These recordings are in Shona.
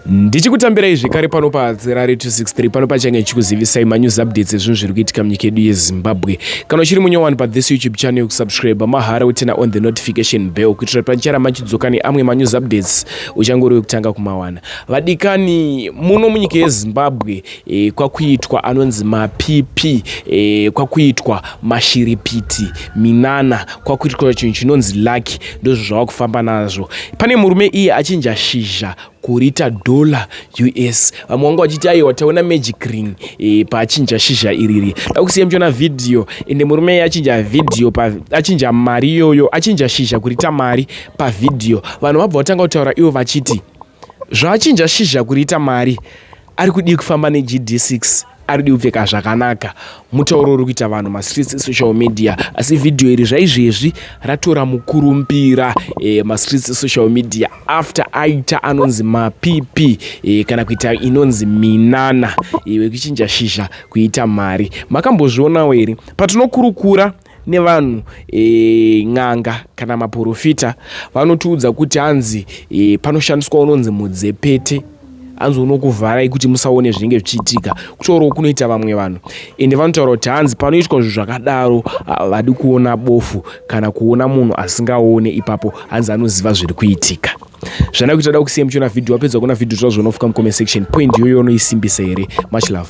ndichikutambirai zvekare pano padzirari 263 pano pachange chikuzivisai manews updates ezvinhu zviri kuitika munyika yedu yezimbabwe kana uchiri munyowani pathis youtube channel yokusubscribe mahara wetena on the notification bell kuitira kuti panichara machidzoka neamwe manews updates uchange uri wekutanga kumawana vadikani muno munyika yezimbabwe e, kwakuitwa anonzi mapipi e, kwakuitwa mashiripiti minana kwakuitwa chinhu chinonzi laki ndozvo zvava kufamba nazvo pane murume iye achinja shizha kurita dollar us vamwe vanga vachiti aiwa taona magic ring e, paachinja shizha iriri da kusiya muchiona vhidhiyo ende murume iye achinja vhidhiyo achinja mari iyoyo achinja shizha kurita mari pavhidhiyo vanhu vabva vatanga kutaura ivo vachiti Zvachinja shizha kuriita mari ari kudii kufamba neGD6 ari kudii kupfeka zvakanaka mutauro uri kuita vanhu mastreets esocial media asi vhidhiyo iri zvaizvezvi ratora mukurumbira e, eh, mastreets esocial media after aita anonzi mapp e, eh, kana kuita inonzi minana e, eh, wekuchinja shizha kuita mari makambozvionawo here patinokurukura nevanhu e, n'anga kana maporofita vanotiudza kuti hanzi e, panoshandiswa unonzi mudzepete hanzi unokuvharai kuti musaone zvinenge zvichiitika kutaurawo kunoita vamwe vanhu ende vanotaura kuti hanzi panoitwa zvinhu zvakadaro havadi kuona bofu kana kuona munhu asingaone ipapo hanzi anoziva zviri kuitika zvana kuita da kusiya muchiona vhidhiyo wapedza kuona vhidhiyo tozvona fuka mucomment section point iyoyo unoisimbisa here much love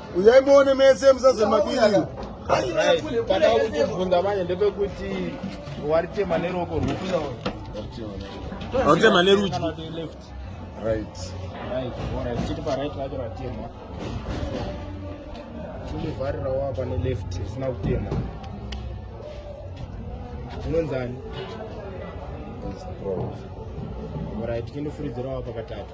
uyai muone mese musazemabiriro pada kutibvunza manje ndepekuti waritema neroko rwupi waritema nerudyi right right alright chiri parit vacho ratema chindivharirawo apa neleft isina kutema zvinonzani right chindifuridzirawo apa katatu